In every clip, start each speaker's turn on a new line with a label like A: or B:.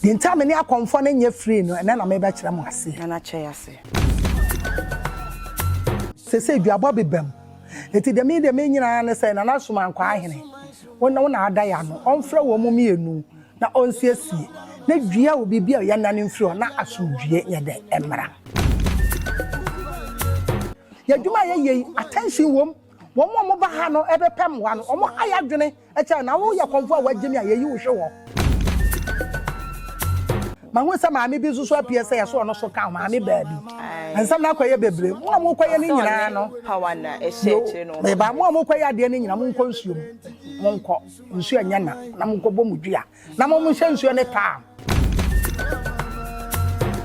A: Deɛ nti a me ne akɔmfoɔ no nyɛ free no, ɛnnɛ na merebɛkyerɛ mo aseɛ. Nana kyɛ ya se. Sesei duabɔ beba mu. Enti deɛ me deɛ menyina ara ne sɛ Nana Somankwa Ahene, wo ne wo na ada yɛ ano, ɔmfrɛ wɔn mmienu na ɔnsiesie na dua o biribi a ɔyɛ nna no mfiri hɔ na asomdwoeɛ nyɛ dɛn? Mmra. Yɛ adwuma a yɛyɛ yi, attention wɔ mu. Wɔn a wɔba ha no bɛpɛ mmoa no, wɔayɛ adwene akyerɛ wo, na woyɛ kɔmfo a wɔagye me a, yɛyi wo hwe hɔ. Mahu sɛ maame bi nso so apue sɛ yɛsɔ no so ka maame baabi. Nsɛm no akɔyɛ bebree. Mo a morekɔyɛ no nyinaa no, yo,
B: meba. Mo a morekɔyɛ adeɛ
A: no nyinaa, monkɔ nsuo mu. Monkɔ, nsuo nyɛ na, na monkɔbɔ mo dua. Na mo nhyɛ nsuo ne palm.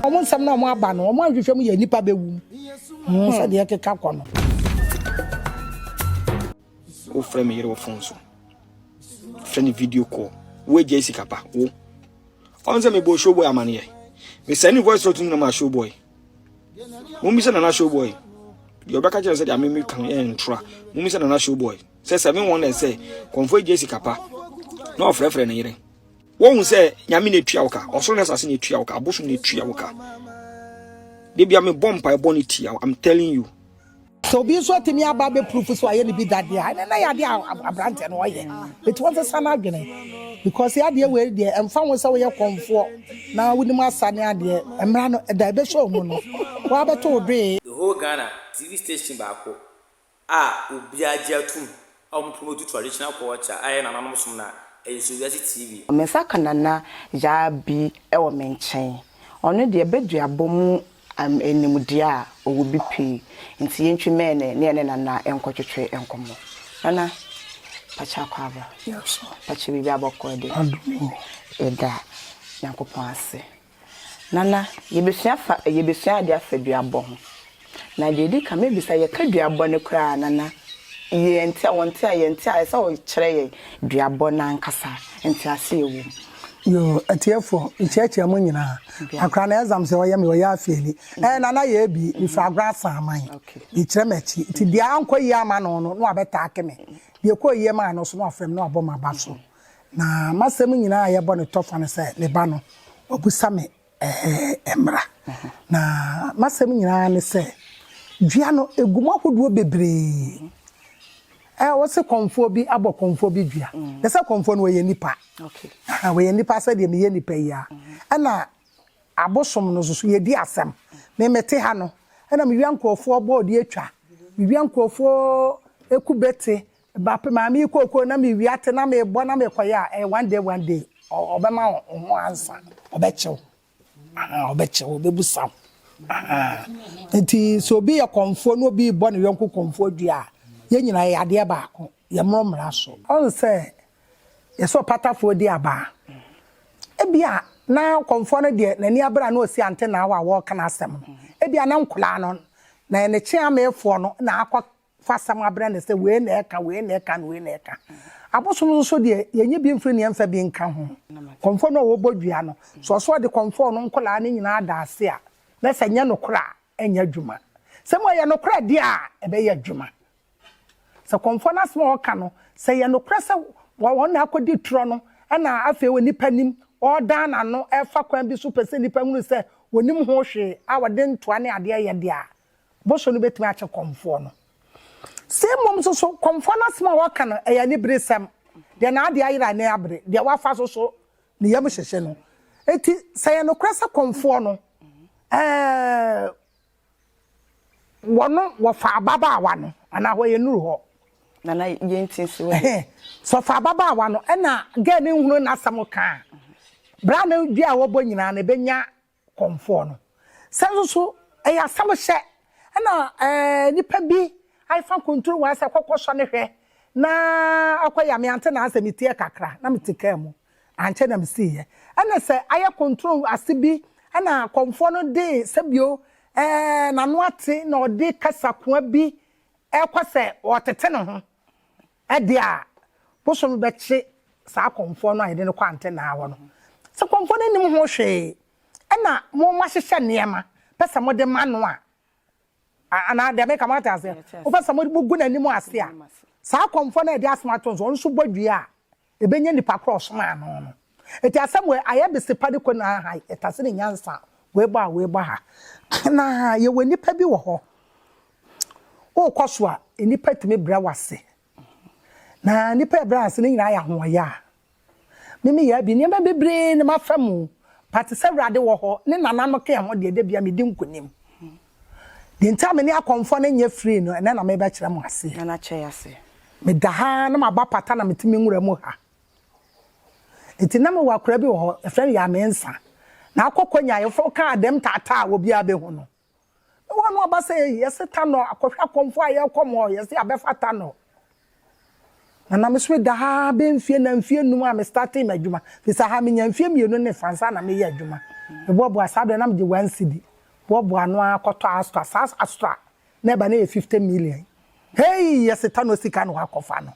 A: Wɔn nsɛm na wɔn aba no, wɔn ahwehwɛ mu yɛ nnipa bɛwum. Hmm, hmm. Sɛdeɛ ɛkeka kɔ no.
C: Wofrɛ me yere wɔ fon so. Frɛ ne video call. Woagya esi kapa wo. Ɔn sɛ mebɔ showboy amaneɛ. Mesɛn ne voice note nyina ma showboy. Mumisa nana showboy. Deɛ ɔbɛka kyerɛ sɛ deɛ amemi kan ɛntra. Mumisa nana showboy. sɛ seven wonders sɛ kɔmfo agye sika pa na ɔfrɛfrɛ ne yere wohu sɛ nyame na etua wo ka ɔsoro ne asase na etua wo ka abosom na etua wo ka debia mebɔ mpae bɔ ne tia i'm telling you sɛ obi nso
A: atumi aba abɛpurufu so ayɛ ne bi dadeɛ a ɛnɛ na yɛ adeɛ a aberanteɛ no ɔyɛ ɛti wɔn sesa no adwene because yɛ adeɛ wei deɛ ɛmfa ho sɛ woyɛ kɔmfoɔ na wonim asa ne adeɛ mmara no ɛda ɛbɛhyɛ ɔmu no wɔabɛto wo doe. The whole Ghana,
D: TV station baako a obiara gye atum a wɔpo no du traditional culture a ɛyɛ nananom som na ɛyɛ so wiase TV. Me nsa ka Nana
B: Yaa bi wɔ me nkyɛn. Ɔno deɛ baduabɔ mu nimdeɛ a ɔwɔ bi pii nti yɛntwi mɛɛne ne yɛne Nana nkɔtwetwe nkɔmmɔ. Nana, pakyɛ akɔ aba? Pakyɛ
A: biribi abɔkɔ
B: de? Yɛda Nyankopɔn ase. Nana, yɛbɛsua afa yɛbɛsua adeɛ afa duabɔ ho. Na deɛ ɛdi kan mɛbisa, yɛka duabɔ no koraa a Nana, yɛnte a, wɔnte a, yɛnte a, ɛsɛ sɛ wokyerɛ yɛn duabɔ no ankasa nteaseɛ a ɛwɔ mu. Yoo,
A: atiefoɔ, mekyerɛkyerɛ mo nyinaa. Akora no exam sɛ ɔyɛ me, ɔyɛ afeeli. Ɛɛ Nana yɛ abi, mefiri Agorɔ Asaman. Mekyerɛ m'akyi. Nti deɛ ankɔ yie amma no no, na wabɛtaake me. Deɛ ɛkɔɔ yie maa no nso, na wafrɛ me na wabɔ m'aba so. Na m'asɛm nyinaa a yɛbɔ no tɔfa no sɛ me ba no, ɔbusa me ɛɛ mmara. Na m'asɛm nyinaa ne sɛ dua no egu mu ahodoɔ bebree. Ɛɛ wɔsi kɔnfoɔ bi abɔ kɔnfoɔ bi dua. Na sɛ kɔnfoɔ no wɔyɛ nipa. Aha wɔyɛ
B: nipa sɛdeɛ
A: meyɛ nipa yi ara. Ɛna abosom no nso so yɛdi asɛm. Me mete ha no ɛna me wia nkorɔfoɔ bɔɔde atwa. Me wia nkorɔfoɔ kube te. Ba pɛ maame yi kookoo na me wia te na me bɔ na me kɔ yɛ a ɛyɛ one day one day ɔbɛma wo ho ansa ɔbɛkye wo ahaa ɔbɛkye wo ɔbɛbu sa wo ahaa nti sɛ obi yɛ kɔnfoɔ na obi bɔ ne yɔnko kɔnfoɔ dua a yɛn nyinaa yɛ adeɛ baako yɛ mmoro mmara so. Ɔn sɛ yɛ sɛ ɔpatafoɔ di aba a ebi a na kɔnfoɔ no deɛ n'ani abere a na ɔsi ante na awa a wɔɔka n'asɛm no ebi a na nkoraa no na yɛ ne kye ameefoɔ no na akɔ fa asɛm abrɛ no sɛ wei na ɛka, wei na ɛka, na wei na ɛka. Abosom no nso deɛ, yɛnyi bi mfiri na yɛmfa bi nka ho. Kɔmfoɔ no a ɔbɔ dua no, sɛ ɔse ɔde kɔmfoɔ no nkwadaa no nyinaa da ase a, na sɛ ɛnyɛ nokorɛ a, ɛnyɛ adwuma. Sɛ mmom ɛyɛ nokorɛ deɛ a, ɛbɛyɛ adwuma. Sɛ kɔmfoɔ no asɛm a ɔka no, sɛ ɛyɛ nokorɛ sɛ wɔn na akɔdi torɔ no, ɛna afei wɔ nnipa anim, ɔredan n'ano, ɛrefa kwan bi so pɛ sɛ nnipa hunu sɛ ɔnim ho hwee, a ɔde ntoa ne adeɛ yɛ deɛ a, Bɔsɔ no bɛtumi akye kɔmfoɔ no. Sei mmom nso so, kɔmfoɔ no asɛm a ɔka no, ɛyɛ aniberesɛm. Deɛ n'adeɛ ayera ne abere, deɛ wafa so so ne yam hyehye no. Enti sɛ ɛyɛ nokorɛ sɛ kɔmfoɔ no, ɛɛɛ, wɔno, wɔfa ababaawa no, anaa hɔ yɛ nnuru hɔ? Nana,
B: yɛnti nso wɔ he? Sɛ ɔfa ababaawa
A: no, ɛna gɛɛ no nhunu n'asɛm ka a, bra no dua a wɔbɔ nyinaa no, ɛbɛnya kɔmfoɔ no. Sɛ nso so ɛyɛ asɛm hyɛ na nipa bi aefa nkontrol mu asɛ kɔkɔ sɔ no hwɛ na akɔ yɛ a me ante naasɛ me tiɛ kakra na me te car mu ankyɛ na me sii yɛ. Ɛna sɛ ayɛ kontrol ase bi ɛna kɔmfoɔ no de sɛbio ɛɛ nano ate na ɔde kasa koa bi ɛkɔ sɛ ɔtete ne ho Ɛdeɛ a, bosome bɛkye saa kɔmfoɔ no a yɛde no kɔ antenaa hɔ no. Sɛ kɔmfoɔ no nnim ho hwee, ɛna mo moahyehyɛ nneɛma pɛ sɛ mode ma no a, anaa deɛ mereka, moate aseɛ? Mopɛ sɛ mogu n'anim ase a, saa kɔmfoɔ no a yɛde asɛm ato no so, ɔno nso bɔ dua a, Ebenya nipa kor a ɔsomaa no no. Ntsi asɛm wei ayɛ bese pa de kɔ no ara ha yi, etase ne nyansa a oebɔ a oebɔ ha. Na yɛwɔ nyimpa bi wɔ hɔ, wokɔ so a, nyimpa tumi brɛ wo ase. Na nyimpa ebrɛ ase no nyina ayɛ ahoɔyaa. Me meyɛɛ bi, nneɛma beberee na mafa mu, but sɛ Ewurade wɔ hɔ, ne nananom kã ho deɛ, da biara medi nkunim. Deɛ nti a me ne akɔmfoɔ no nyɛ free no, ɛnnɛ na merebɛkyerɛ mo aseɛ. Nana Kyɛyase.
B: Meda ha ara
A: na maba pata na mete me nwura mu ha. Nti na mewɔ akwadaa bi wɔ hɔ, yɛfrɛ no Yaa Mensah. Na akɔ Konya, yɛfrɛ wo kaa dɛm taataa a obiara bɛhu no. Mewɔ ano aba sɛ, ei, yɛse Tanor, akɔhwɛ akɔmfoɔ a yɛrekɔ mo hɔ, yɛse yɛabɛfa Tanor. Na na mesome daa bɛyɛ mfeɛ nan mfeɛ nnum a me startee m'adwuma. Firi sɛ ha menya mfeɛ mmienu ne fa ansa na meyɛ adwuma. Me boaboa saa berɛ na megye one cedi boaboa ano ara kɔtɔ Astra. Saa Astra na ɛba na ɛyɛ fifty million. Hei yɛse tano sika na wakɔ fa no.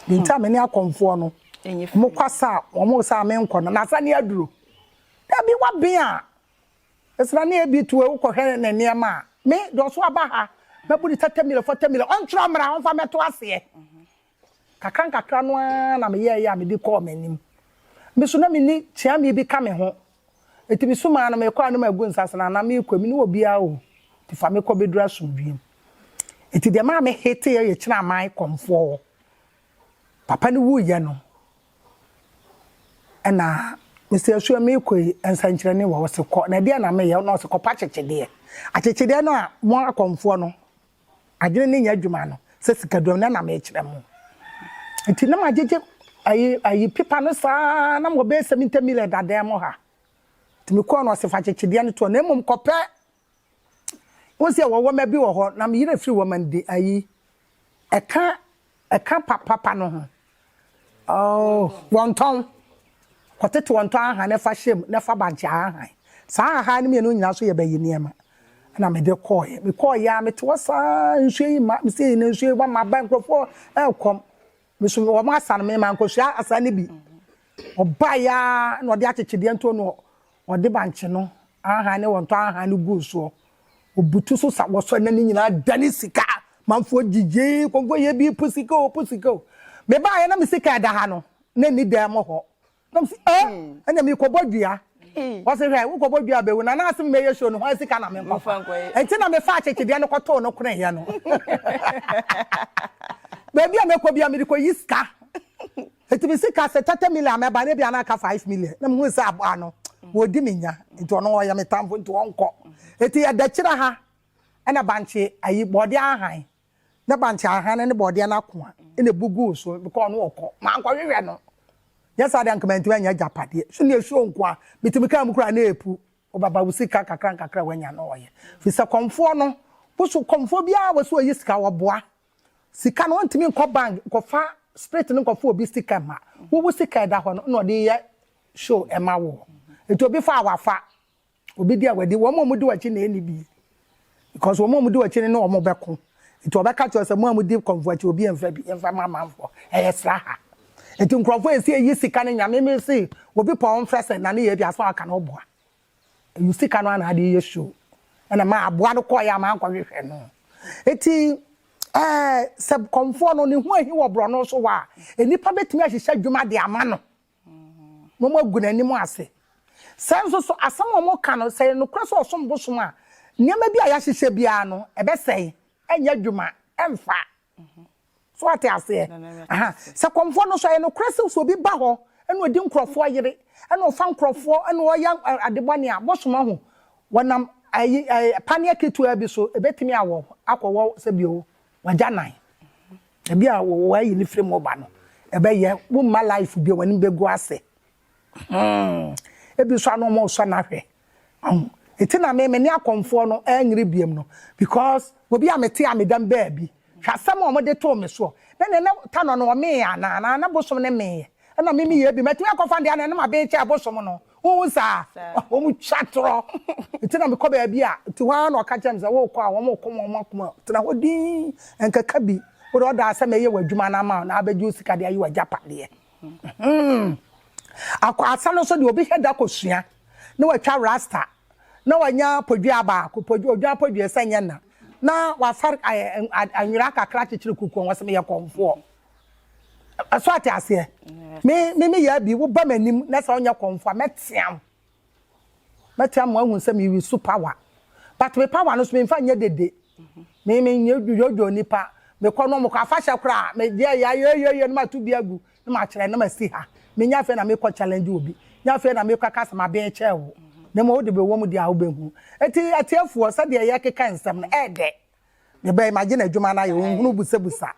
A: Deɛ nti a me ne akɔmfoɔ no wɔn kɔ asa a wɔn resa a menkɔ no. Na asa ne aduro. Dabi waben a Esra ne Ebi tu ewu kɔhwɛ ne nneɛma a, me, deɛ ɔso aba ha, mɛbu ne thirty million, forty million, ɔntwerɛ mmra, ɔmfa mmɛto aseɛ. Nkakra nkakra no ara na meyɛeɛ a mede kɔɔ m'anim. Me nso na menni kyeame bi ka me ho, enti mesumaa no, Merekɔ a ne magu nsa ase, na anaa merekɔ yi, menni obiara o, enti fa me kɔ bɛduru asomdwoeɛ mu. Enti deɛ ɛmaa me heteeɛ yɛ Kyenaman kɔmfoɔ hɔ, Papa no wuiɛ no, ɛna mese asuo meekɔ yi nsɛnkyerɛnne wɔ hɔ se kɔ na ɛdeɛ na meyɛ na ɔse kɔpa akyekyedeɛ akyekyedeɛ no a mo akɔmfoɔ no adwene no nyɛ adwuma no sɛ sikaduam no na meekyerɛ mo nti na magyegye ayi ayi pepa no saa na mewɔ bɛyɛ 70 million dadaa mu ha nti mekɔɔ no ɔse fa akyekyedeɛ no toɔ na mmom kɔpɛ Wohu sɛ wɔwɔ mma bi wɔ hɔ, na me yerɛ firi wɔn man de ayi. Ɛka ɛka pa papa no ho. Oh, wɔn tɔn. Wɔtete wɔn tɔn ahan na ɛfa hyɛm na ɛfa bankye ahan. Saa ahan no mmienu nyinaa so yɛ bɛyi nneɛma. Ɛna me de kɔɔɛ. Me kɔɔɛ a me te hɔ saa nsuo yi ma, me sɛ yi na nsuo yi ba ma ba nkurɔfoɔ ɛkɔm. Me so wɔn asa no, mema nkosua asa no bi. Ɔbaeɛ ara na ɔde akyekyedeɛ nto no, ɔde bankye no ahan ne wɔntɔ ahan no guu soɔ. Ɔbutu so sa wɔ so na ne nyinaa dane sika. Manfoɔ gyigyeeɛ, kɔnkɔyɛ bi, po sika o, po sika o. Mebaeɛ na me sika a ɛda ha no, na ɛnni dan mu hɔ. nam si ɛ ɛna mi kɔbɔ dua wɔsi hwɛ wokɔbɔ dua abɛwu na n'asem mɛyɛ show no ho asika na mi nkɔfa nti na mefa akyekyedeɛ no kɔtoo no kone yɛ no baabi a mɛkɔ bi a mede kɔyi sika nti mi sika sɛ thirty million mɛba ne bi a na aka five million na mi hu sɛ aboa no wɔdi mi nya nti ɔno ɔyɛ mi tamfo nti ɔnkɔ nti ɛdɛkyerɛ ha ɛna bankye ayi bɔɔde ahan na bankye ahane ne bɔɔdeɛ no ako a, na ɛbu guu so because ɔno ɔkɔ. Mankɔhwehwɛ no. Nyɛ saa deɛ anka mantumi anya agyapadeɛ. So nea ɛsuro nko a, metumi kaa mu koraa na ɛrepu. Wobɛba wo sika kakra nkakra a woanya no ɔyɛ. Ɛfiri sɛ kɔmfoɔ no, wo so kɔmfoɔ biara a wɔse ɔyi sika wɔboa. Sika no ɔntumi nkɔ bank nkɔfa spirit no nkɔfa obi sika mma wo. Wo sika a ɛda hɔ no na ɔde yɛ show ma wo. Nti obi fa a wafa. Obi di a wadi wɔn a wɔdi w'akyi na ɛni bi because wɔn a wɔdi w'akyi no ne wɔn bɛko nti wɔbɛka kyerɛ sɛ mo a modi kɔnfo akyi obi mfa bi mfa ma amanfoɔ ɛyɛ sraha nti nkurɔfoɔ ɛsi ɛyi sika no nyame me se obi pɔ ɔmfrɛ sɛ na ne yɛ bi aso aka no ɔboa ɛyi sika no ana adeɛ yɛ show ɛna ma aboa no kɔɔ yɛ ama ankɔhwehwɛ no ɛti ɛɛ sɛ kɔnfoɔ no ne ho ahi wɔ borɔno so wɔ a nnipa bɛtumi ahyehyɛ adwuma de ama no Mmom agu n'anim ase. Sɛ nso so asɛm a wɔka no, sɛ ɛyɛ nokorɛ sɛ ɔsom bosom a, nneɛma bi a yɛahyehyɛ biara no, ɛbɛsɛe, ɛnyɛ adwuma, ɛmfa. So woate aseɛ? Aha. Sɛ kɔmfoɔ no nso, ɛyɛ nokorɛ sɛ sɛ obi ba hɔ na ɔdi nkurɔfoɔ yere, na ɔfa nkurɔfoɔ na ɔyɛ ade bɔne a, bosom ahu, wɔnam ayi, paneɛ ketewaa bi so, ɛbɛtumi awɔ, akɔwɔ sɛdeɛ ɔwɔ, w'agyanan. Ebi a wɔayi ne firi mu ba no, ɛbɛyɛ womma life bio, w'anim bɛgu ase. Ebi nso ano wɔresɔ no ahwɛ. Eti na me me ne akɔmfoɔ no ɛnyere biam no because obi a mete a meda mu baabi hwɛ asɛm a wɔde too me soɔ na nea na ta no no ɔmeeɛ anaa anaa na bosom no meeɛ ɛna me meyɛ bi matumi akɔfa deɛ anaa na mabeekyɛ bosom no Wohu saa? Wɔtwa atorɔ. Enti na mekɔ baabi a, enti hɔ ara na wɔka kyerɛ me sɛ, Worekɔ a, wɔreko wɔn akoma o. Tena hɔ dinn. Ɛnkeka bi. Wo deɛ, ɔdaa sɛ mɛyɛ w'adwuma no ama wo na abɛgye wo sika de ayi w'agyapadeɛ. Hum! Akwaasa no nso deɛ, obi hwɛ da kɔsua, na watwa rasta, na wanya podwea baako, pod, odwan podwea sɛ ɛnyɛ nna, na wafa ɛ, ɛ, nwera kakra akyekyere kuku ho, ɔse, Meyɛ kɔmfoɔ. so ate aseɛ me me me yɛ bi woba m'anim na sɛ ɔnyɛ kɔnfo a mɛteam mɛteam ma ahu sɛ mewi so power but me power no so memfa nyɛ dede me me nyɛ dwodwo nipa mekɔ no mokɔ afahyɛ koraa medeɛ yɛ ayɛyɛyɛ no mato bi agu na makyerɛ na masi ha menya afei na mekɔ challenge obi nya afei na mekɔ ka sɛ maben kyɛɛ wo na ma wode bɛwɔ mu deɛ a wobɛhu ɛti atiefoɔ sɛdeɛ yɛkeka nsɛm no ɛɛdɛ eh, mebɛ imagine adwuma no ayɛ ɔhunu busabusa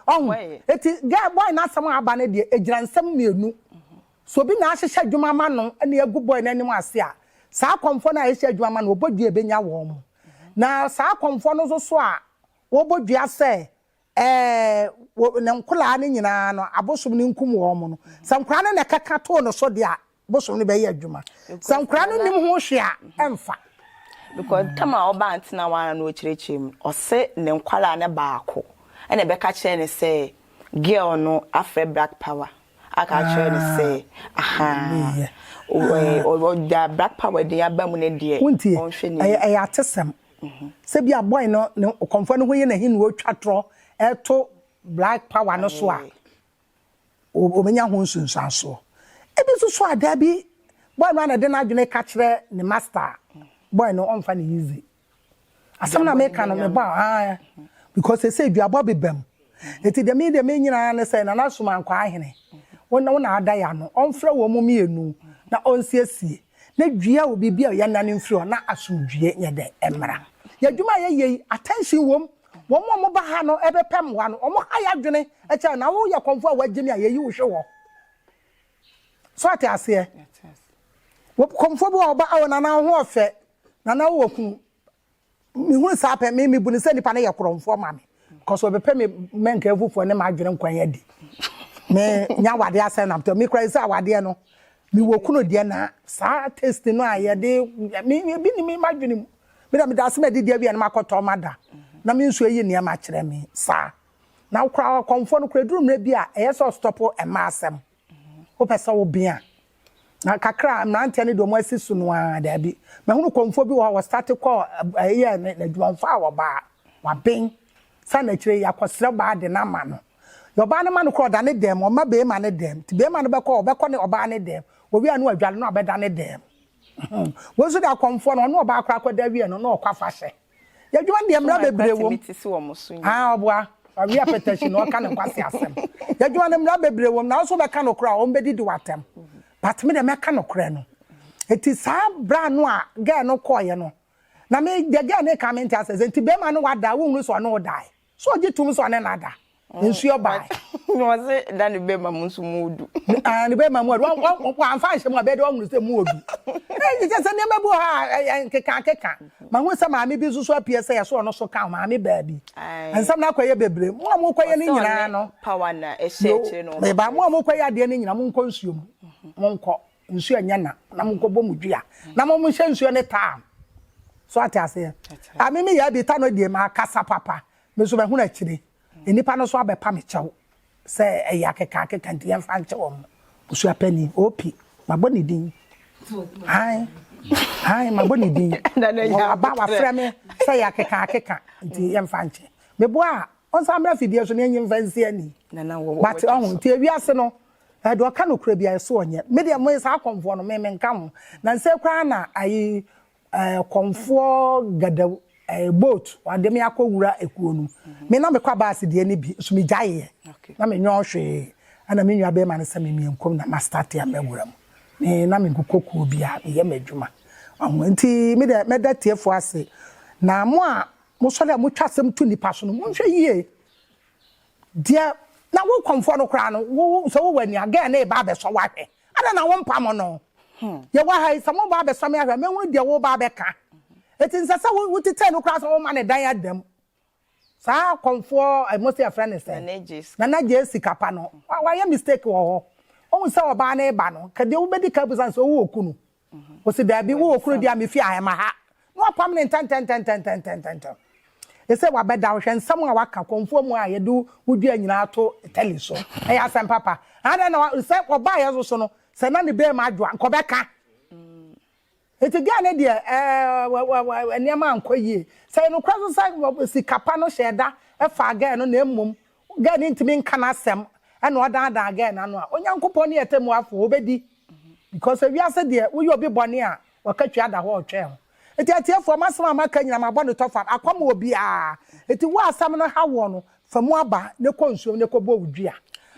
A: ɔhu eti girl boy n'asɛm a aba no deɛ egyina nsɛm mmienu so obi na ahyehyɛ adwuma ma no ɛna egu boy n'anim ase a saa akɔmfo no a ɛhyɛ adwuma ma no ɔbɔ dua ebenya wɔn mo na saa akɔmfo no nso so a wɔbɔ dua sɛ ɛɛ ne nkoraa no nyinaa no abosom no nkum wɔn mo no sɛ nkoraa no na ɛkɛka too no so deɛ a bosom no bɛyɛ adwuma sɛ nkora no nim ho hwe a ɛmfa because mm.
B: tam a ɔba ntena wana na ɔkyerɛkyerɛ mu ɔse ne nkwaraa ne baako ɛna ɛbɛka kyerɛ ne sɛ girl no afrɛ black power aka kyerɛ ne sɛ ah. aha ɔda black power din aba mu ne deɛ ɔnhwɛ ne ɛyɛ
A: atesɛm mhm. sɛ bi abɔe no ne kɔmfoɔ no ho yɛ n'ahi na ɔtwa torɔ ɛto black power no so a obenya ho nsunsuansoɔ. Ebi nso so a, daabi, boy no ara na ɛde n'adwene ka kyerɛ ne master a, boy no ɔmfa no easy. Asɛm no a meka no, mebɔ a, ae, because seesei duabɔ beba mu. Enti deɛ me deɛ menyina ara ne sɛ, Nana Sumankɔ Ahene, wo na wo na ada yɛ ano, ɔmfrɛ wɔn mmienu na ɔnsiesie, na dua wɔ biribi a yɛnnane mfiri hɔ na asomdwoeɛ nyɛ dɛn? Mmra. Yɛn adwuma a yɛyɛ yi, attention wom, Wɔn a wɔba ha no bɛpɛ mmoa no, wɔha yɛn adwene kyɛn na woyɛ kɔmfoɔ a wɔagye me a yɛyi wo hwe hɔ. So ate aseɛ? Kɔmfoɔ bi wɔ hɔ ɔba, awo nana wo ho ɔfɛ, nana wo wɔ kunu. Mehunu saa pɛ, me mebu no sɛ nipa no yɛ korɔmfoɔ ma me. Kɔsɛ ɔbɛpɛ me mɛnkaeɛfofoɔ ne m'adwene nkwan adi. Me nya awadeɛ asɛn na mtɔ. Me kura yi sɛ awadeɛ no, me wɔ kunu deɛ na saa taste no a yɛde, me ebi ni me m'adwene mu. Me deɛ, meda ase madidi awie a na makɔtɔ mada na me nso ayi nneɛma akyerɛ me saa. Na wo koraa ɔkɔmfoɔ no koraa ɛduru mmerɛ bi a ɛyɛ sɛ ɔstɔpo mmaa asɛm. Wopɛ sɛ wo bea. Na kakra a mmeranteɛ no deɛ wɔn asi so no ara daabi. Mahunu kɔmfoɔ bi wɔ hɔ a ɔstarte kɔɔ ɛyɛɛ n'adwuma ɔmfaa ɔbaa. Waben. Saa na akyire yi akɔsrɛ ɔbaa de no ama no. Deɛ ɔbaa no ma no koraa ɔda ne dan mu ɔmma beema no dan mu. Nti beema no bɛkɔ a ɔbɛkɔ ne ɔbaa no dan mu. Wɔwie a na wadware na wabɛda ne dan mu. Wo nso da kɔmfoɔ no ɔne ɔbaa kora kɔda wie no na ɔkɔ afahyɛ. Yɛdwuma deɛ mmara bebree wom. Ah ɔboa awie apɛtɛhyi na ɔka ne nkwasi asɛm. Yɛdwuma no mmara bebree wom na wo nso wobɛka nokorɛ a wɔn bɛdidi wo atɛm. But me deɛ mɛka nokorɛ no. Enti saa bra no a girl no kɔeɛ no na me deɛ girl no reka mente aseɛ sɛ enti barima no wada a wonhunu sɛ ɔne wo daeɛ. So ɔgye tom sɛ ɔne no ada? Nsuo bae. Na ɔse na
B: ne bɛma mu nso mu ɔdu. Ah, ne bɛma mu
A: ɔdu. Wamfa anhyɛ mu a, bɛyɛ dɛ wahunu sɛ mu ɔdu. Ɛyi kyɛ sɛ nneɛma bi wɔ hɔ a, ɛyɛ nkekankeka. Mahunu sɛ maame bi nso so apue sɛ yɛsɔ ɔno so ka ho, maame baabi. Nsɛm no akɔyɛ bebree. Mo a mokɔyɛ no nyinaa no,
B: yo, meba, mo a mokɔyɛ adeɛ
A: no nyinaa, monkɔ nsuo mu. Monkɔ. nsuo ɛnyɛ na na mo nkɔbɔ mo dua na mo mo nhyɛ nsuo ne taam so ate aseɛ a me me yɛ bi ta no deɛ ma akasa papa me nso mahunu akyire nnipa no so abɛpa me kyɛw sɛ ɛyɛ akeka akeka nti yɛmfa nkyɛ wɔn busua panyin opi mabɔ ne din han han mabɔ ne din aba wafrɛ me sɛ yɛ akeka akeka nti yɛmfa nkyɛ meboa a ɔnsa mmra fidie so ne ɛnyi mfa nsi ani but ɔho nti ewiase no Ɛɛ deɛ ɔka nokorɛ biara ɛso ɔnyɛ. Me deɛ me saa kɔmfoɔ no me me nka ho. Nansɛ koraa na ayi ɛɛ kɔmfoɔ gadaw ɛɛ boat ɔde me akɔ wura ekuo no. Me na me kɔ abaase deɛ no bi nso me gyaeɛ. Na me nyɔɔ hwee. Ɛna me nua bɛɛma no sɛ me mia nkom na ma start a mɛ wura mu. Me na me nkokɔ kuo biara me yɛ m'adwuma. Wahu nti me deɛ mɛ da tiefoɔ ase. Na mo a mo sɔre a mo twa asɛm to nipa so no mo nhwɛ yie. Deɛ na wo kɔmfoɔ no koraa no, wo sɛ wowɔ ani a, girl no reba abɛsɔ wo ahwɛ. Adɛn na wompam no? Yɛwɔ ha yi, sɛ moba abɛsɔ me ahwɛ a, mɛhunu deɛ woreba abɛka. Enti ɛnsɛ sɛ wotetɛ no koraa sɛ woma no dan ada mu. Saa kɔmfoɔ, mose yɛfrɛ no sɛn? Nana Gyee sika pa no, wayɛ mistake wɔ hɔ. Wahu sɛ ɔbaa no reba no, nka deɛ wobɛdi kan abusa no sɛ, Wowɔ kunu? Ose, Dabi, wo wɔ kuro di a me fie ahe ma ha? Na wapam no ntɛntɛntɛntɛntɛntɛntɛntɛm. Ese, Wabɛda wo, hwɛ nsɛm a waka kɔmfoɔ mu a yɛde wo dua nyinaa ato tele so. Ɛyɛ asɛm papa. Adɛn na wa, sɛ ɔbaa yɛn so so no, sɛ na ne bɛɛma adwo a, nka ɔbɛka. Nti girl no deɛ, ɛɛɛ, nneɛma ankɔ yie. Sɛ ɛyɛ nokorɛ nso sɛ sika pa no hyɛɛ da faa girl no na mmom Girl no ntumi nka n'asɛm ɛna ɔdaadaa girl no ano a, Onyankopɔn ne Ɔtɛmmuafoɔ, Ɔbɛdi. Because sɛ wiase deɛ, woyɛ obi bɔne a, Ɔka twi ada hɔ a Ɔtwɛn ho. Nti atiefoɔ, m'asɛm a maka nyinaa mabɔ no tɔfa, akɔ ama obiara. Nti wo a asɛm no ha woɔ no, fa mu aba na kɔ nsuom na kɔ bɔ wo dua.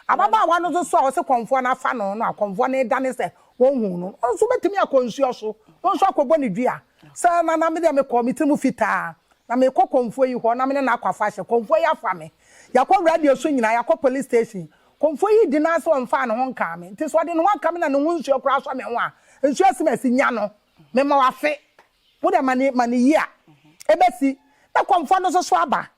A: Ababaawa no nso so a ɔse kɔmfoɔ no afa no no a, kɔmfoɔ no redane sɛ ɔnhuu no no nso bɛtumi akɔ nsuo so, no nso akɔbɔ ne dua. Sɛ Nana, me deɛ mekɔɔ, me tiri mu fitaa, Na merekɔ kɔmfoɔ yi hɔ na me ne no akɔ afahyɛ. Kɔmfoɔ yi afa me. Yɛakɔ radio so nyinaa, yɛakɔ police station. Kɔmfoɔ yi di n'aa sɛ ɔmfaa ne ho nkaa me. Nti sɛ ɔde ne ho aka me na ne ho nsuo koraa sɔ me ho a, nsuo asi me asi. Nya no. Mema wo afe. Wo deɛ ma no yie a, ɛbɛsi. Na kɔmfoɔ no nso so aba.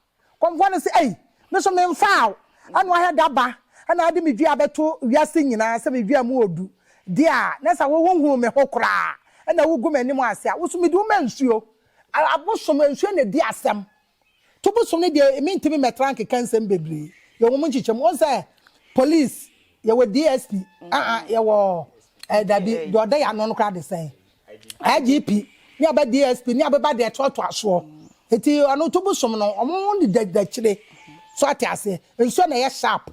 A: Kɔmfoɔ no se, Ei! Me nso memfaa wo. Ɛna ɔhɛ da ba. Ɛna ade me dua bɛto wiase nyinaa sɛ me dua mu wɔ du. Dear, na sɛ wo honhuu me ho koraa na wogu m'anim ase a, wo nso mede wo ma nsuo. Ara bosom nsuo na edi asɛm. To bosom no deɛ me ntumi mɛtra nkeka nsɛm bebree. Yɛwɔ wɔn nkyekyɛm. Wɔn sɛ police, yɛwɔ DSP, ah ah, yɛwɔ eh, dabi, deɛ ɔda yɛ ano no koraa de sɛn. IGP, ne aba DSP, ne abeba deɛ ɛtoatoa soɔ. Eti ɔno to bosom no, wɔn ne dakyire. So ate aseɛ. Nsuo na ɛyɛ sharp.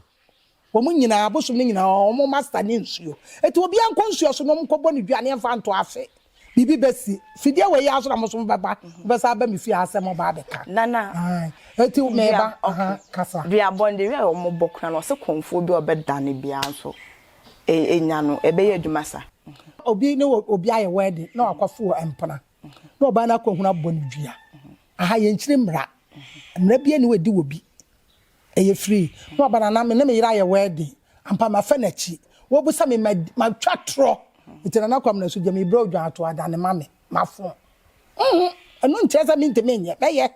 A: Wɔn nyinaa, abosom no nyinaa, wɔn master ne nsuo. Enti obiara nkɔ nsuo so na wɔnkɔbɔ no dwa ne mfa nto afe. Biribi bɛsi. Fidie wei ara so na mo nso mobɛba, mobɛsan aba me fie ha sɛ moba abɛka. Nana,
B: Enti meba,
A: aha, kasa. Dua bɔnde wei a
B: wɔbɔ koraa no, wɔse kɔmfoɔ bi a ɔbɛdane biara nso nya no, ɛbɛyɛ adwuma saa? Obi ne
A: obi ayɛ wedding na wakɔfoɔ mpena. na ɔbaa no akɔhunu abɔ no dua aha yɛnkyiri mmara mmara bia ne wɔdi wɔ bi ɛyɛ firi na ɔba nana me ne me yere ayɛ wɛɛden ampa mafɛ n'akyi wɔbusa me matwa torɔ nti nana kwam na so gya mebrɛ odwan ato adane ma me mafo ɛno nkyerɛ sɛ mentimi nyɛ bɛyɛ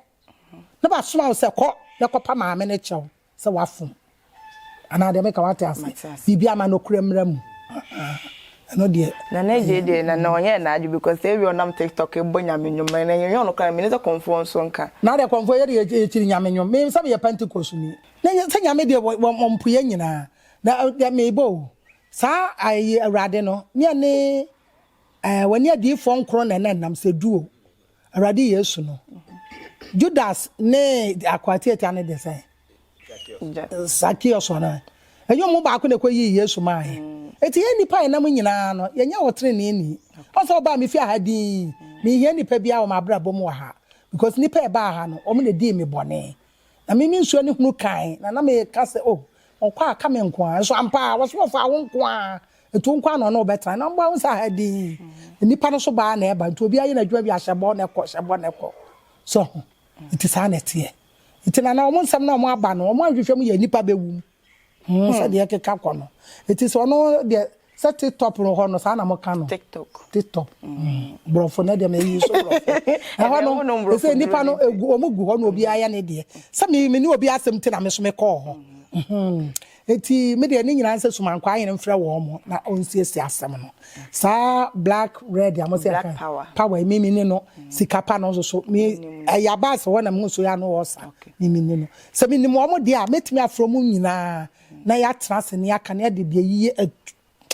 A: na basoma wo sɛ kɔ na kɔpa maame no kyɛw sɛ wafom anaa deɛ meka wate ase biribi ama no kura mmra mu ɛno deɛ na na ɛgye deɛ na
B: na ɔnyɛ n'adwe because sɛ ebi ɔnam tiktok bɔ nyame nnwom na ɛnyɛ ɔno kora mene sɛ kɔmfoɔ nso nka na deɛ kɔmfoɔ yɛ deɛ
A: ɛkyiri nyame nnwom me sɛ meyɛ pentecost ni na nyɛ sɛ nyame deɛ wɔmpoyɛ nyinaa na deɛ mebɔ o saa ayɛ awurade no ne ɛne w'ani adiifoɔ nkorɔ na ɛna nam sɛ duo Awurade Yesu no, Judas ne akoa tiatia no de sɛ Zacchaeus no, ɛnyɛ ɔmo baako na ɛkɔ yii Yesu maa yɛ. Eti yɛn nnipa a ɛnam nyinaa no, yɛnyɛ ɔtrenee ni. Ɔsɛ ɔbaa me fie ha dinn, menhia nnipa biara wɔ m'abrabɔ mu wɔ ha, because nnipa a ɛbaa ha no, ɔmo na dii me bɔne. Na me, me nsuo ani hunu kann, na na meka sɛ, Oh, wɔkɔ a, ka me nko ara. Nso ampa ara, wɔse wɔfaa wo nko ara, enti wo nko ara na ɔne wo bɛtena. Na mmoa, wohu sɛ aha dinn, nnipa no so ba ara na ɛba, enti obiara yɛ n'adwuma bi a, hyɛ bɔ na kɔ, hyɛ bɔ na kɔ. So ho? Enti saa na ɛteɛ. Enti na na wɔn nsɛm no a wɔaba no, wɔanhwehwɛ mu yɛ nnipa bɛwum. Hum sɛdeɛ ɛkeka kɔ no ɛti sɛ ɔno deɛ sɛ tiktop no hɔ no saa na mo ka no tiktop tiktop brɔfo no deɛ mɛyi so brɔfo ɛhɔ no ɛsɛ nipa no egu ɔmo gu hɔ no obi ayɛ ne deɛ sɛ me me ne obi asɛm ti na me so me kɔɔ hɔ ɛti me deɛ ne nyinaa sɛ suma nkɔ ayɛ no mfrɛ wɔn mo na ɔnsiesie asɛm no saa black red amo sɛ ɛka power mimi
B: ne no
A: sikapa no nso so me ɛyɛ abaase hɔ na mo nso yɛ ano wɔ sa mimi ne no Sɛ minim wɔn de a, mɛtumi afrɛ wɔn nyinaa na yɛatena ase na yɛaka na yɛde deɛ yiye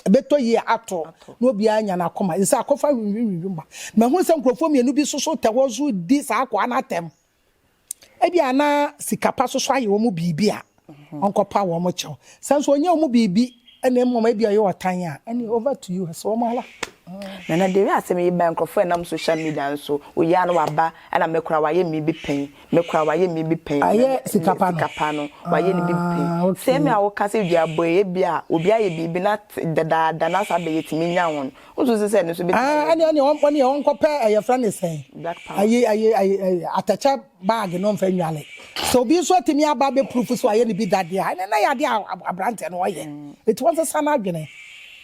A: ɛbɛtɔ yie ato na obiara anya n'akoma. Ɛsɛ sɛ akɔfa nwinwinwinwi ma. Mahunu sɛ nkurɔfoɔ mmienu bi nso so tɛ hɔ nso redi saa akoa no atɛm. Ebia na sika pa nso so ayɛ wɔn biribi a ɔnkɔpa wɔn kyɛw. Sɛ nso ɔnyɛ wɔn biribi na mmom ebia ɔyɛ ɔtan a, ɛnneɛ over to you, ɛsɛ wɔn ara. Nana the way
B: asɛm yi baeɛ nkurɔfoɔ ɛnam social media nso, wo yere a na waba ɛna me koraa wayɛ me bi pɛn Me koraa wayɛ me bi pɛn. Ayɛ sika pa no. Sika
A: pa no wayɛ ne
B: bi pɛn. Ah okay. Sɛ me a woka sɛ dua bɔ yi ebi a obi ayɛ biribi na te dadaada na saa bɛ yɛtumi nya wɔn wonso se sɛ ɛno nso bɛtumi ayɛ bi. Ah ɛneɛ ɔneɛ ɔneɛ
A: ɔnkɔ pɛ ɛyɛ frɛ ne sɛn. Black power. Ayi ayi ayi ayi atɛkyɛ bag no nfa nwale sɛ obi nso atumi aba abɛ proof sɛ wayɛ ne bi da deɛ a ɛneɛ na ɛyɛ adeɛ a abranteɛ no ɔyɛ nti wɔnsesa no adwene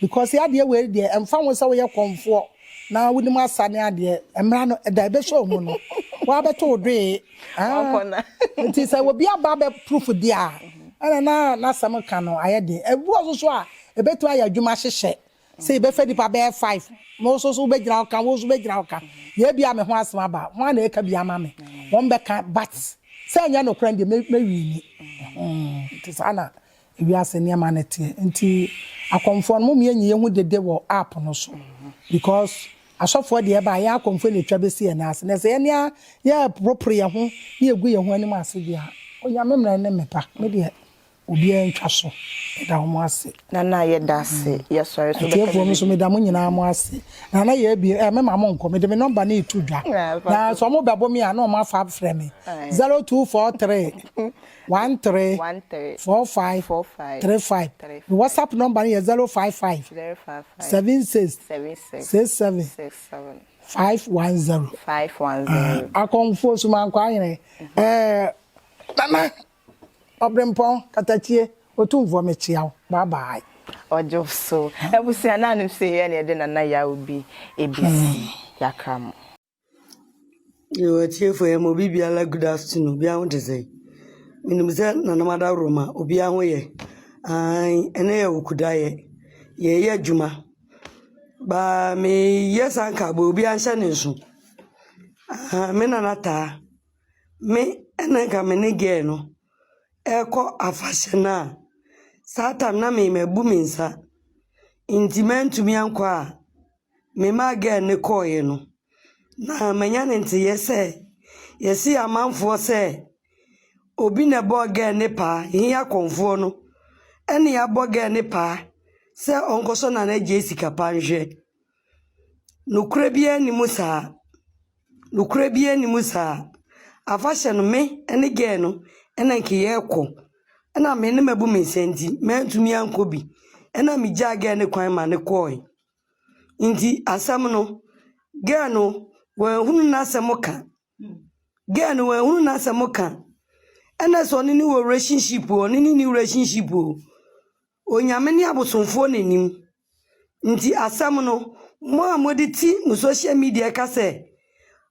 A: because adeɛ wei deɛ ɛnfa ho sɛ woyɛ kɔnfoɔ. Na wonim asa ne adeɛ mmra no da ebe show mu no waa bɛto wo doee aah nti sɛ obi aba abɛ proof deɛ a ɛna na n'asɛm ka no ayɛ den ebi wɔ so so a ebetumi ayɛ adwuma ahyehyɛ sɛ yɛbɛfa nipa bɛyɛ five na wo so so wobɛgyina wo ka wo so bɛgyina wo ka yɛ ebia me ho asɛm aba ho a na eka bi ama me wɔn bɛka but sɛ ɛnyɛ nokorɛ deɛ mɛ mɛ wini hmm nti saa na Wiase nneɛma no teɛ nti akɔmfoɔ no mom yɛ nyi yɛhu dede wɔ app no so because asɔfoɔ deɛ ɛba a yɛn akɔmfoɔ na ɛtwa bɛsi yɛn nan ase na sɛ yɛne a yɛ poroporo yɛn ho na yɛgu yɛn ho anim ase deɛ a Onyame mmara ne me pa me deɛ obiara ntwa so meda wɔn ase. Nana yɛda ase
B: yɛsɔre so bɛka biribi. Atiefoɔ me nso meda mo nyinaa
A: mo ase Nana yɛ abie ɛɛ me ma mo nkɔ mede me nɔmba no reto dwa na sɛ wɔn bɛbo me a na wɔn afa afrɛ me zero two four three One three four five three five me whatsapp number no yɛ zero five five seven six six seven five one zero akɔnfo sumankɔ ayerɛ ɛɛ nana ɔbrempɔn katakyie otumfoɔ mekyia wo bye bye. Ɔdwo so
B: abusua na anom sɛ yɛ na yɛde nana yaw bi ɛbɛsi yɛakra mo.
E: Yo, atiefo yi, ɛma obi biara good afternoon. Obiara ho te sɛn? Menim sɛ Nananom Adaworoma, obiara ho yɛ. Aane, ɛnnɛ yɛ Owukuda, yɛ, yɛreyɛ adwuma. Ba meyɛ saa nkaebɔ yi, obiara nhyɛ ne nso. Ahaa, me Nana Taa, me ɛna nka me ne girl no ɛrekɔ afahyɛ no a, saa tam no na me, mabu me nsa, nti mantumi ankɔ a. Memaa gɛɛ no kɔeɛ no, na manya no nteeɛ sɛ yɛse amanfoɔ sɛ obi na ɛbɔɔ gɛɛ no paa, he akɔmfoɔ no ɛne abɔ gɛɛ no paa sɛ ɔnkɔsɔ Nana Agyei sika pa nhwɛ. Nokorɛ biaa nni mu saa. Nokorɛ biaa nni mu saa. Afahyɛ no me ne gɛɛ no na nka yɛɛkɔ, ɛna me ne mabu me nsa nti mantumi ankɔ bi, ɛna megyaa gɛɛ no kwan ma no kɔɔe. Ntsi asɛm no, girl no oennhun n'asɛm kã. Girl no oennhun n'asɛm kã. Nna sɛ ɔnye no wɔ relationship o, ɔnye no nnyi relationship o, Onyame nye abosomfo wɔ n'enyim. Ntsi asɛm no, mo a modze tsi mo social media ka sɛ,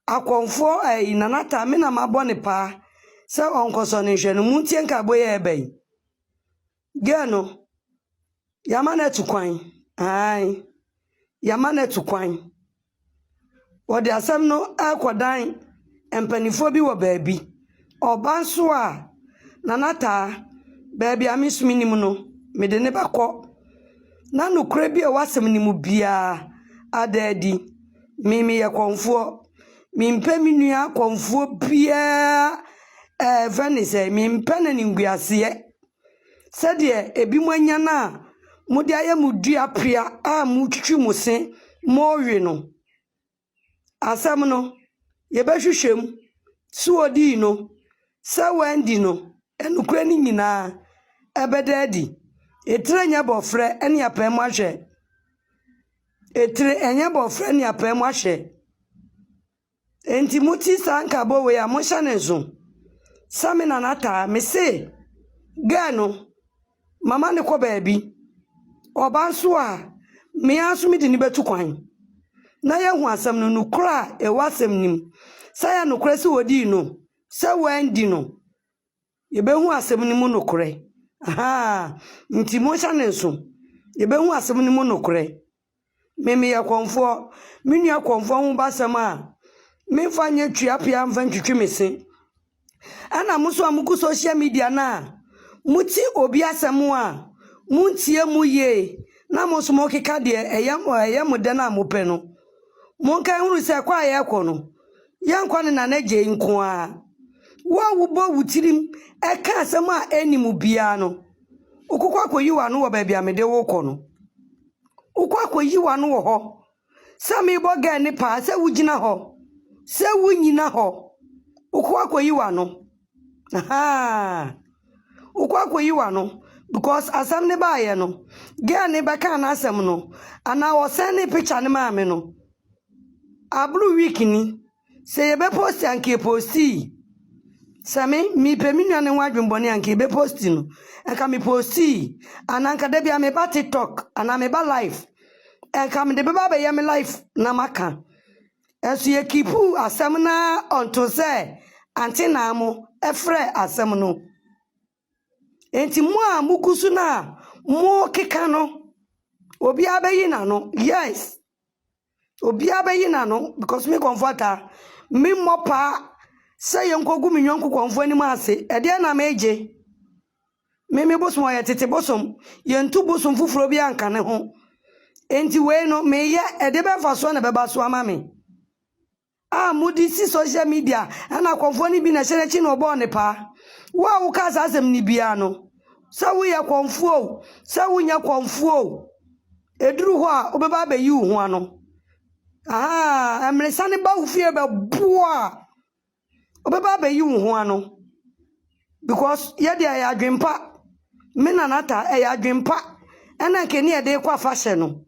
E: Akɔmfoɔ ɛyi, Nana Taa, me na mabɔ no paa sɛ ɔnkɔsɔ no nhwɛ no, montsie nkaabɔ yi a ɛreba yi. Girl no, yɛama no atu kwan. Ae, yɛama no atu kwan. Wɔde asɛm no rekɔdan mpanimfoɔ bi wɔ baabi. Ɔba nso a, Nana Taa, baabi a me nso menim no, mede no bɛkɔ. Na nokorɛ bi a ɛwɔ asɛm no mu biara ada adi. Me, meyɛ kɔmfoɔ. Mempɛ me nua kɔmfoɔ biara ɛɛ, ɛfrɛ no sɛ, mempɛ n'animguaseɛ. sɛdeɛ ebinom anya no a mode ayɛ mo dua pea a motwitwi mo se morewe no. Asɛm no, yɛbɛhwehwɛ mu, so odii no, sɛ wanndi no, nokorɛ no nyinaa ɛbɛda adi. Etire nyɛ bɔfrɛ ne apae mu ahwɛ. Etire ɛnyɛ bɔfrɛ ne apae mu ahwɛ. Enti motee saa nkabɔ wei a, monhyɛ no nso. Sɛ me nana taa, mese, Girl no, mama no kɔ baabi. Ɔba nso a, me ara nso mede no bɛtu kwan. Na yɛahu asɛm no, nokorɛ a ɛwɔ asɛm no mu, sɛ ɛyɛ nokorɛ sɛ ɔdii no, sɛ wanndi no. Yɛbɛhu asɛm no mu nokorɛ. Ahaa, nti monhyɛ no nso. Yɛbɛhu asɛm no mu nokorɛ. Me, meyɛ kɔmfoɔ. Me nua kɔmfoɔ ho ba asɛm a, memfa nyɛ tua pea mfa ntwitwi me se. Ɛna mo nso a mogu social media no a, mote obi asɛm a, montie mu yie na mo nso mokeka deɛ ɛyɛ mo dɛ no a mopɛ no. Monkae nhunu sɛ kɔ a yɛrekɔ no, yɛrenkɔ ne nana Agyei nko ara. Wo a wobɔ wo tirim ka asɛm a enni mu biara no, wokɔkɔ akɔyi w'ano wɔ baabi a mede wo rekɔ no. Wokɔ akɔyi w'ano wɔ hɔ sɛ merebɔ gɛɛ no paa sɛ wugyina hɔ, sɛ wunnyina hɔ. Wokɔ akɔyi w'ano. Ahaa! Wokɔ akɔyi w'ano because asɛm no baeɛ no, girl no bɛkaa n'asɛm no anaa ɔsɛndee picture no maa me no, aboro week ni. Sɛ yɛbɛ post a nka yɛpostii. Sɛ me, mepɛ me nua no ho adwemmɔne a nka yɛbɛ posti no, nka mepostii. Anaa nka da bi a meba TikTok anaa meba live, nka mede bɛba abɛyɛ me live na maka. Ɛso yɛ kipuu asɛm na ɔnto sɛ ante na mo frɛ asɛm no. Enti mo a mo gu so na mo keka no, obiara bɛyi n'ano. Yes, obiara bɛyi n'ano because me kɔnfɔta, me mmɔ paa sɛ yɛn kɔ gu me nyɔnko kɔnfɔ anim ase. Ɛdeɛ na me gye. Meme bosom a ɔyɛ tete bosom. Yentu bosom foforo biara nka ne ho. Enti wei no, meyɛ, ɛde bɛn mfasoɔ na ɛbɛba so ama me? A mode si social media, ɛna kɔmfoɔ no bi na ɛhyɛ n'akyi na ɔbɔɔ ne paa. Wo a wokaa saa asɛm no biara no, sɛ woyɛ kɔmfoɔ o, sɛ wonyɛ kɔmfoɔ o, ɛduru hɔ a, wobɛba abɛyi wo ho ano. Ahaa, mmeresa no ba wo fie bɛboa a, Wobɛba abɛyi wo ho ano. Because yɛ deɛ ɛyɛ adwene pa. Me nana ta ɛyɛ adwene pa. Ɛna nka ne yɛde kɔ afahyɛ no.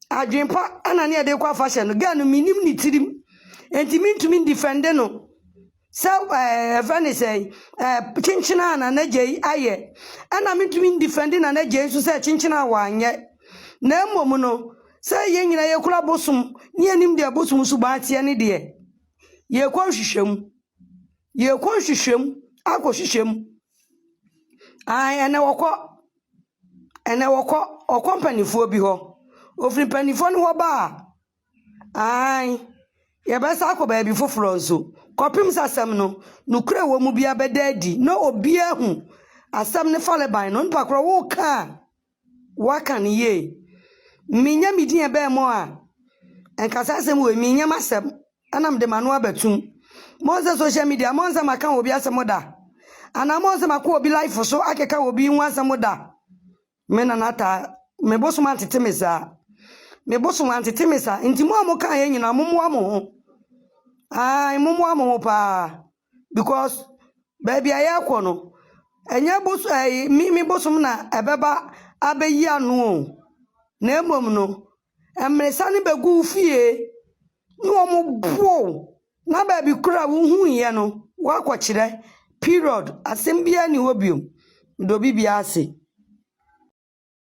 E: Adwene pa ɛna ne yɛde kɔ afahyɛ no. Girl no menim ne tirim. Nti mentumi ndifɛnde no. Sɛ ɛɛ ɛfɛ ne sɛ ɛɛ kyenkyena a nana gya yi ayɛ. Ɛna mentumi ndifɛnde nana gya yi nso sɛ kyenkyena a wanyɛ. Na mmom no sɛ yɛn nyinaa yɛkura bosom ne yɛnim deɛ bosom suban teɛ ne deɛ. Yɛrekɔ nhwehwɛmu. Yɛrekɔ nhwehwɛmu akɔhwehwɛ mu. Ae, ɛnnɛ wɔkɔ. Ɛnnɛ wɔkɔ. Wɔkɔ mpanimfoɔ bi hɔ. Wɔfiri mpanimfoɔ no hɔ ba a, ae, yɛbɛsan akɔ baabi foforɔ nso kɔpem sɛ asɛm no, nokorɛ a ɛwɔ mu biara bɛda adi na obiara ahu asɛm no farebae no. Onipa korɔ, woreka a, Waka no yie. Menya me din ɛbɛɛ mo a nka saa asɛm wei menyɛ m'asɛm ɛna mede m'ano abɛtum. Monsɛ social media monsɛ maka obi asɛm da anaa monsɛ makɔ obi life so akeka obi ho asɛm da. Me nana taa me bosom antete me saa. Me bosom antete me saa nti mo a mokaeɛ nyinaa mommoa mo ho. Ae mommoa mo ho paa. because baabi a yɛrekɔ no, ɛnyɛ bos ɛyi mimi bosom na ɛbɛba abɛyi ano o, na mmom no, mmirisa no bɛgu wo fie na wɔboa wo na baabi koro a wohuiɛ no, woakɔkyerɛ. Period. Asɛm biara nni hɔ bio. Medɔ obi biara ase.